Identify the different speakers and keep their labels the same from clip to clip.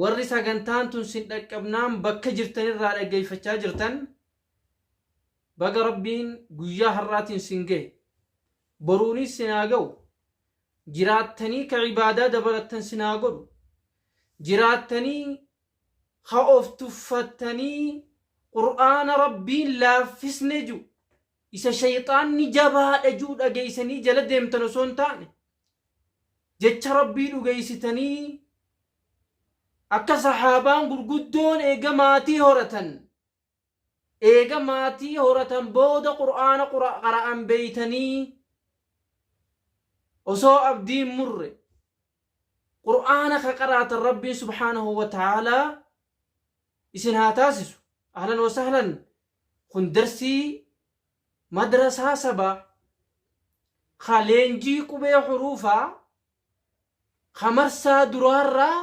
Speaker 1: Warri sagantaan tun sin dhaqqabnaan bakka jirtan irraa dhaggeeffachaa jirtan baga Rabbiin guyyaa har'aatiin sin gahe. Boruunis sin haa gahu. Jiraattanii ka ibaadaa dabalattan sin haa godhu. Jiraattanii ka of tuffattanii Qur'aana Rabbiin laaffisne ju isa shayxaanni jabaadha ji'u dhageeysanii jala deemtan osoo hin taane, jecha Rabbii dhugeeysitanii akka sahaabaan gurguddoon eega maatii horatan, eega maatii horatan booda qur'aana qara'an beeytanii osoo abdii hin murre, qur'aana ka qaraatan Rabbiin subhaanahu wa ta'aalaa isin haa taasisu. Ahlan wa sahlan Kun darsii madrasaa sabaa ka leenjii qubee huruufaa ka marsaa duraarraa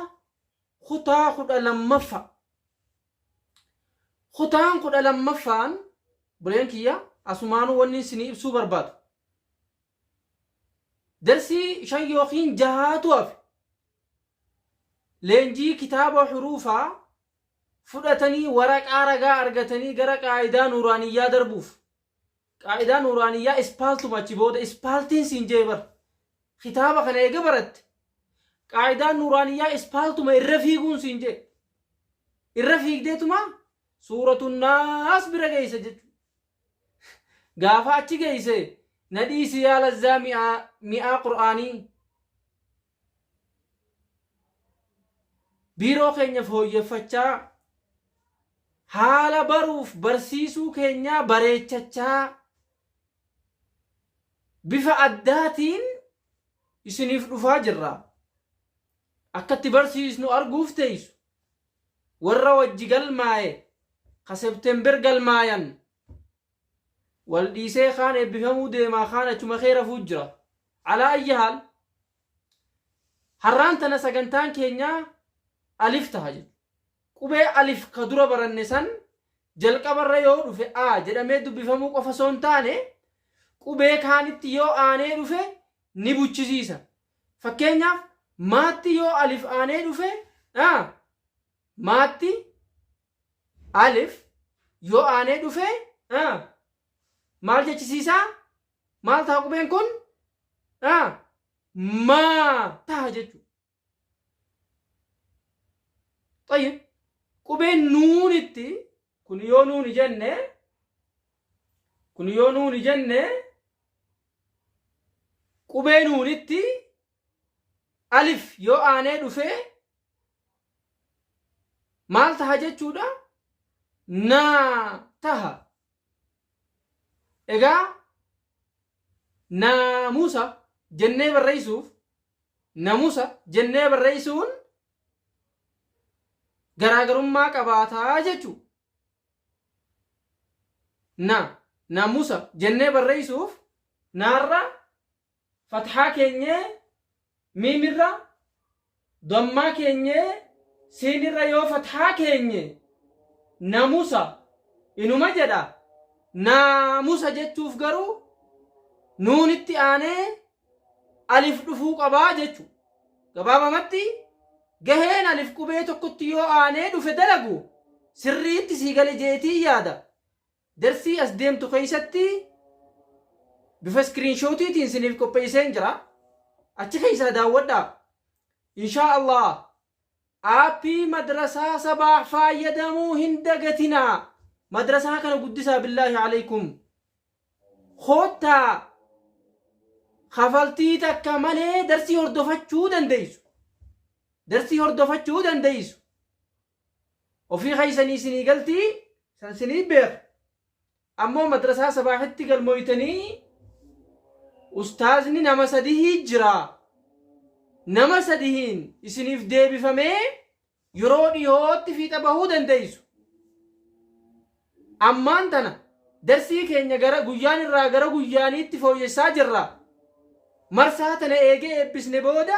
Speaker 1: kutaa 12ffa. Kutaan 12ffaan buleen kiyya asumaanuu wannin isinii ibsuu barbaadu. Darsii 5 yookiin 6tu hafe. Leenjii kitaaba huruufaa fudhatanii waraqaa ragaa argatanii gara qaa'idaa nuuraaniyyaa darbuuf qaa'idaa nuuraaniyyaa ispaaltuma achi booda ispaaltiin siin jee bar kitaaba kana eega baratte qaa'idaan nuuraaniyyaa ispaaltuma irra fiiguun siin jee irra fiigdeetuma suuratun naas bira geeysa jechu gaafa achi geeyse na dhiisi yaa lazzaa mi'aa mi'aa qur'aanii Biiroo keenya fooyyeffachaa, haala baruuf barsiisuu keenyaa bareechachaa, bifa addaatiin isiniif dhufaa jirra. Akka itti barsiisnu arguuf teessu. Warra wajji galmaa'e, ka September galmaayan, Wal dhiisee kaan eebbifamuu deemaa kaan achuma kee rafuu jira. Alaa ayyi haal harraan tana sagantaan keenya alif taha jechuudha. Qubee alif ka dura baranne san jalqabarra yoo dhufe a jedhamee dubbifamuu qofa osoo hin taane qubee kaanitti yoo aanee dhufe ni buchisiisa. Fakkeenyaaf maatti yoo alif aanee dhufe a maatti Alif yoo aanee dhufe a maal jechisiisa? Maal taha qubeen kun? a maa taha jechu. Tayyib qubeen nuunitti kun yoo nuuni jenne kun yoo nuuni jenne qubee nuunitti alif yoo aanee dhufee maal taha jechuudha naa taha egaa naamusa jennee barreessuuf namusa jennee barreessuun garaagarummaa qabaataa jechuu na namusa jennee barreessuuf naarra Fathaa keenyee miim irra, Dhammaa keenyee siin irra yoo fathaa keenye namusa inuma jedha, naamusa jechuuf garuu nuunitti aanee alif dhufuu qaba jechu. Gabaabamatti gaheen alif qubee tokkotti yoo aanee dhufe dalagu sirriitti sii gale jeetiin yaada. Darsii as deemtu keessatti bifa iskiriinshootiitiin isiniif qopheesseen jira. Achi keessaa daawwadhaa. Inshaa Allah aappii madrasaa sabaax faayyadamuu hin dagatinaa. Madrasaa kana guddisaa billaahi alaykum. Koottaa kafaltii takka malee darsii hordofachuu dandeessu. Darsii hordofachuu dandeessu. Ofii keessanii isinii galtii san isinii beeka. Ammoo madrasaa sabaahitti galmooytanii ustaazni nama sadihii jira. Nama sadihiin isiniif deebifamee yeroo dhihootti fiixa bahuu dandeeysu. Ammaan tana darsii keenya gara guyyaan irraa gara guyyaaniitti fooyyessaa jirra. Marsaa tana eegee eebbisne booda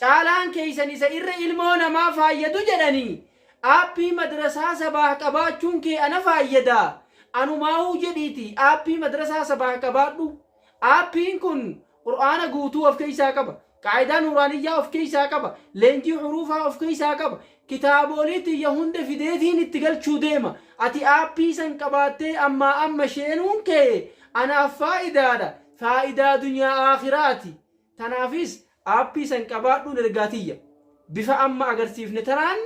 Speaker 1: Caalaan keessan isa irra ilmoo namaa faayyadu jedhanii Aappii madrasaa sabaah qabaachuun kee ana faayyada anumaahuu jedhiitii Aappii madrasaa sabaah qabaadhu Aappiin kun Qur'aana guutuu of keessaa qaba Qaa'idaa Nuuraaniyyaa of keessaa qaba Leenjii Huruufaa of keessaa qaba Kitaaboolii tiyya hunda fideetiin itti galchuu deema Ati Aappii san qabaattee ammaa amma sheenuun kee anaaf faa'idaadha faa'idaa dunyaa aakhiraati Tanaafis aappii san qabaadhuun ergaa tiyya. Bifa amma agarsiifne tanaan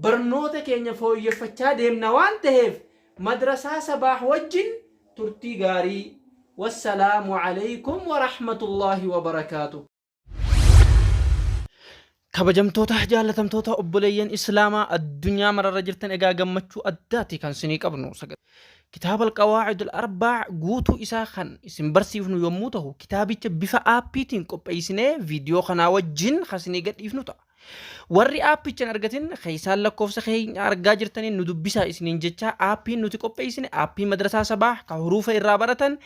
Speaker 1: barnoota keenya fooyyeffachaa deemna waan taheef Madrasaa Sabaah wajjin turtii gaarii. Wassalaamu Aleykum Warahmatullaahi Wabarakaatuh. Kabajamtoota jaallatamtoota obboleeyyan Islaamaa addunyaa mararra jirtan egaa gammachuu addaati kan sinii qabnu. Kitaaba Alqawaacid Al-Arbaa guutuu isaa kan isin barsiifnu yommuu ta'u kitaabicha bifa aappiitiin qopheessinee viidiyoo kanaa wajjin kan isinii gadhiifnu ta'a. Warri aappicha hin argatin keessaan lakkoofsa keenya argaa jirtaniin nu dubbisaa isiniin jechaa aappiin nuti qopheessine aappii madrasaa sabaa kan huruufa irraa baratan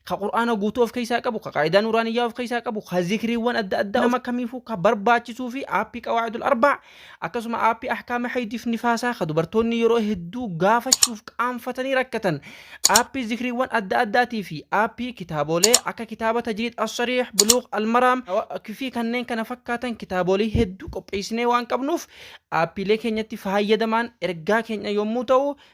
Speaker 1: ka qur'aana guutuu of keessaa qabu ka qaayidaa nuuraaniyyaa of keessaa qabu ka zikriiwwan adda addaa nama kamiifuu ka barbaachisuu fi aappii qawaacidul arbaa akkasuma aappii ahkaama haydiif nifaasaa ka dubartoonni yeroo hedduu gaafachuuf qaanfatanii rakkatan aappii zikriiwwan adda addaatii fi aappii kitaabolee akka kitaaba tajriid assariix buluuq almaraam fi kanneen kana fakkaatan kitaabolee hedduu qopheessinee waan qabnuuf aappiilee keenyatti fayyadamaan ergaa keenya yommuu ta'u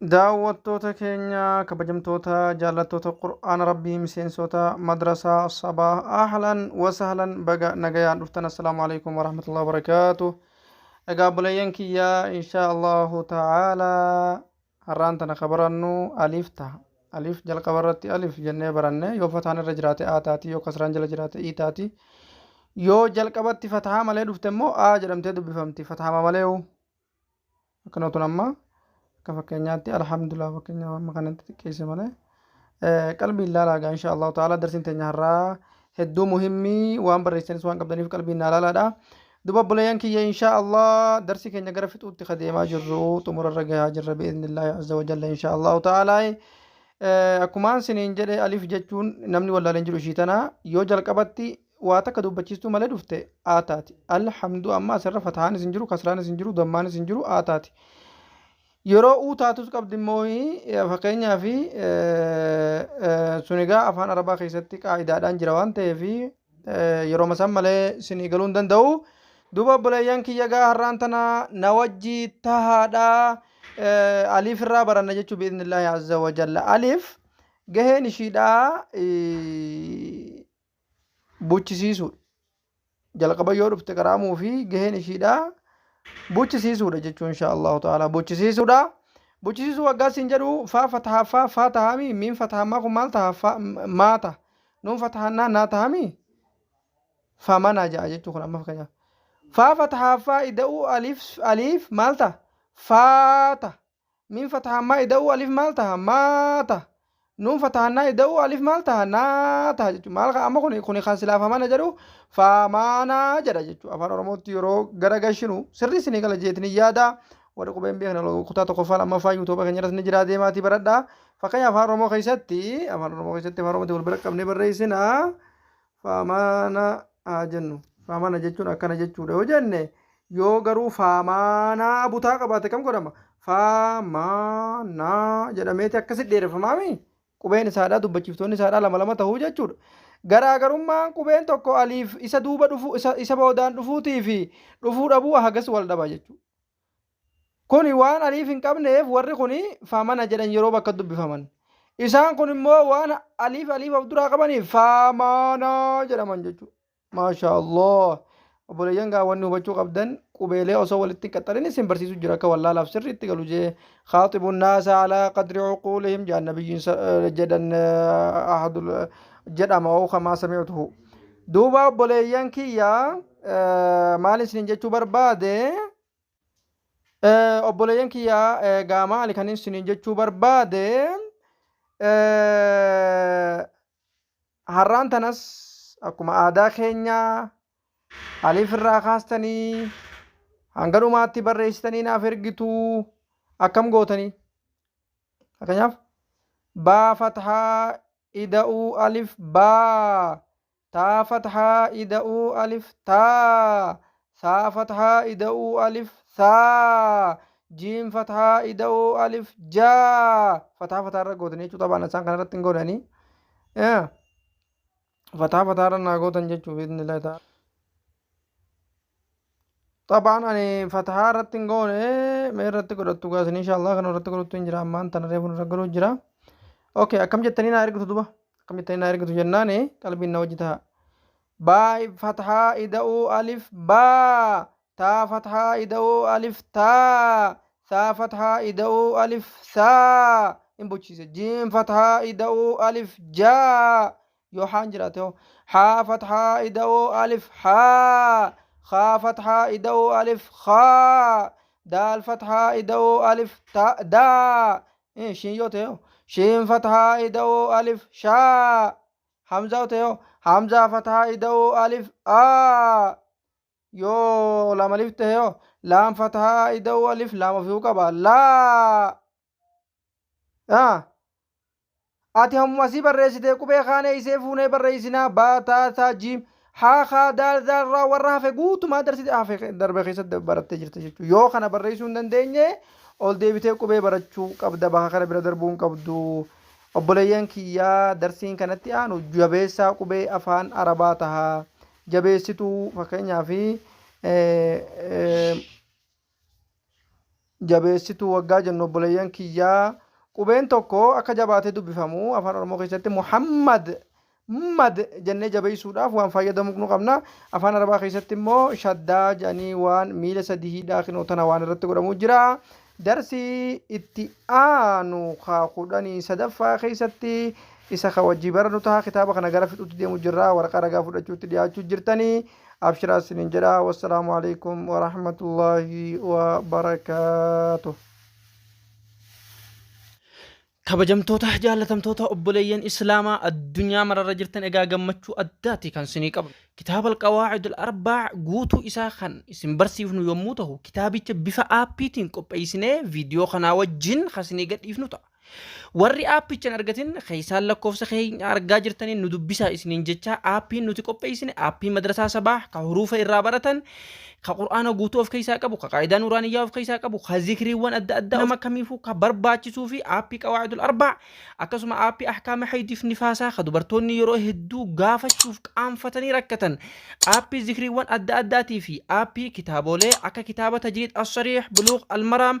Speaker 2: Daawwattoota
Speaker 1: keenya kabajamtoota jaallattoota Qur'aana Rabbii miseensoota madrasaa sabaa ahlan wasahlan baga nagayaan dhuftan assalaamu alaikum warahmatullahi wabarakaatu egaa obboleeyyan kiyya inshaa allahu ta'aala har'aan tana ka barannu aliif taha aliif jalqaba irratti aliif jennee baranne yoo fataan irra jiraate a taati yoo kasraan jala jiraate i taati yoo jalqabatti fatahaa malee dhufte immoo a jedhamtee dubbifamti fatahaa malee akka nootun amma akka fakkeenyaatti alhamdulillah fakkeenyaaf amma kanatti xiqqeesse malee qalbii ilaalaa gaa insha allahu ta'ala darsiin teenya har'aa hedduu muhimmii waan barreessanis waan qabdaniif qalbii naa laalaadha duba obboleeyyan kiyya insha allah darsi keenya gara fixuutti ka deemaa jirru xumurarra gahaa jirra bi'iznillaahi azza wajalla insha allahu ta'ala akkumaan siniin jedhe alif jechuun namni wallaaleen jiru ishii tana yoo jalqabatti waa takka dubbachiistuu malee dhufte aa taati al hamdu amma asirra fatahaanis hin jiru kasraanis hin jiru dammaanis hin jiru aa taati yeroo uu taatus qabdi immoo fakkeenyaa fi sunigaa afaan arabaa keessatti qaa'idaadhaan jira waan ta'eef yeroo masan malee sinii galuu hin danda'u duuba obboleeyyan kiyya gaa har'aan tana na wajji tahaadha aliif irraa baranna jechuu biiznillaahi azza wajalla aliif gaheen ishiidhaa buchisiisuudha. Jalqaba yoo dhufte qaraamuu fi gaheen ishiidha buchisiisuudha jechuun insha Allahu ta'ala buchisiisuudha. Buchisiisuu waggaa siin jedhu faa fatahaa faa faa tahaami miin fatahammaa kun maal taha faa maa taha nuun fatahannaa naa tahaami faa manaa ja'a jechuu kun amma fakkeenyaaf. Faa fatahaa faa ida'uu aliif aliif maal taha faa taha Miim fatahammaa ida'uu alif maal taha maa taha. Nuun fatahannaa ida'uu alif maal taha naa taha jechuudha. Maal kan amma kuni kuni kan silaa famana jedhu faamaanaa jedha jechuudha. Afaan Oromootti yeroo gara gashinu sirrii isinii gala jeetni yaada. Warri qubeen beekna kutaa tokkoffaa lammaffaa yuutuuba keenya irratti ni jira deemaatii baradha. Fakkeenya afaan Oromoo keessatti afaan Oromoo keessatti afaan Oromootti wal bira qabnee barreessina. faamaana haa jennu faamaana jechuun akkana jechuudha yoo jenne yoo garuu faamaanaa butaa qabaate kam godhama faamaanaa jedhameeti akkasi dheereffamaami qubeen isaadhaa dubbachiiftoonni isaadhaa lama lama ta'uu jechuudha garaagarummaan qubeen tokko aliif isa duuba dhufuu isa, isa boodaan dhufuutii fi dhufuu dhabuu hagas wal dhaba jechuudha Kuni waan aliif hin qabneef warri kuni famana jedhan yeroo bakka dubbifaman. Isaan kun immoo waan aliif aliif of duraa qabaniif faamaana jedhaman jechuudha. Maashaa Allah. Obboleeyyan
Speaker 3: gaa wanni hubachuu qabdan qubeelee osoo walitti hin qaxxarin isin barsiisu jira akka wallaalaaf sirri itti galu jee khaaxibu naasa alaa qadri cuquulihim jedhan nabiyyiin sa- eh, jedhan eh, ahadul eh, jedhama oo kamaa sami'tuhu. Duuba obboleeyyan kiyya eh, maal isin jechuu barbaade Obboleeyyan kiyya gaamaa ani kan isiniin jechuu barbaade har'aan tanas akkuma aadaa keenya aliif irraa kaastanii hanga dhumaatti barreessitanii naaf ergitu akkam gootanii fakkeenyaaf baa fathaa ida'uu alif baa Taa fathaa ida'uu alif taa Saa fathaa ida'uu alif saa Jiim fathaa ida'uu alif jaa Fataa fataa irra gootanii jechuu tabaan isaan kana irratti hin goodhanii Fataa fataa irra naa gootan jechuu biidni illee ta'a. Xabaan ani fatahaa irratti hin goone mee irratti godhattu gaasin inshaallah kan irratti godhattu hin jira ammaan tana reefu irra galuu jira. Okay akkam jettanii naa ergitu duba akkam jettanii naa ergitu jennaani qalbiin na wajji taha. Baay fatahaa ida'uu alif baa taa fatahaa ida'uu alif taa saa fatahaa ida'uu alif saa hin bochiise jiin fatahaa ida'uu alif jaa yoo haan jiraate hoo haa fathaa ida'oo alif haa haa fathaa ida'oo alif haa daal fathaa ida'oo alif daa shiin yoo ta'e hoo shiin fathaa ida'oo alif shaa hamzaa yoo ta'e hoo hamzaa fathaa ida'oo alif aa yoo laam alif ta'e hoo laam fathaa ida'oo alif laam ofii qaba laa Ah. Ati hammuma asii barreessitee qubee kaanee isee fuunee barreessinaa baataa taa jiim haa kaa daal zaalraa warra hafe guutumaa darsite hafe darbe keessatti barattee jirta jechuudha. Yoo kana barreessuu hin dandeenye ol deebitee qubee barachuu qabda bakka kana bira darbuu hin qabdu. Obboleeyyan kiyyaa darsiin kanatti aanu jabeessaa qubee afaan arabaa tahaa jabeessituu fakkeenyaaf jabeessituu waggaa jennu obboleeyyan kiyyaa qubeen tokko akka jabaatee dubbifamu afaan oromoo keessatti muhammad mad jennee jabeessuudhaaf waan fayyadamuu nu qabna afaan arabaa keessatti immoo shaddaa jedhanii waan miila sadii hidhaa kinoo tana waan irratti godhamuu jira darsii itti aanu kaa kudhanii sadaffaa keessatti isa ka wajjii baranu taha kitaaba kana gara fixutti deemu jirra waraqaa ragaa fudhachuutti dhiyaachuu jirtanii abshiraa isinin jedha wassalaamu alaikum warahmatullaahi wabarakaatuh
Speaker 1: kabajamtoota jaallatamtoota obboleeyyan islaamaa addunyaa mararra jirtan egaa gammachuu addaati kan isinii qabnu kitaaba alqawaacid alarbaa guutuu isaa kan isin barsiifnu yommuu ta'u kitaabicha bifa aappiitiin qopheessinee viidiyoo kanaa wajjin kan isinii gadhiifnu ta'a Warri aappicha hin argatin keessaan lakkoofsa keenya argaa jirtaniin nu dubbisaa isiniin jechaa aappiin nuti qopheessine aappii madrasaa sabaah ka huruufa irraa baratan ka qur'aana guutuu of keessaa qabu ka qaayidaa nuuraaniyyaa of keessaa qabu ka zikriiwwan adda addaa nama kamiifuu ka barbaachisuu fi aappii qawaa'idul arbaa akkasuma aappii ahkaama haydiif nifaasaa ka dubartoonni yeroo hedduu gaafachuuf qaanfatanii rakkatan aappii zikriiwwan adda addaatii fi aappii kitaaboolee akka kitaaba tajriid as-sariih buluuq al-maraam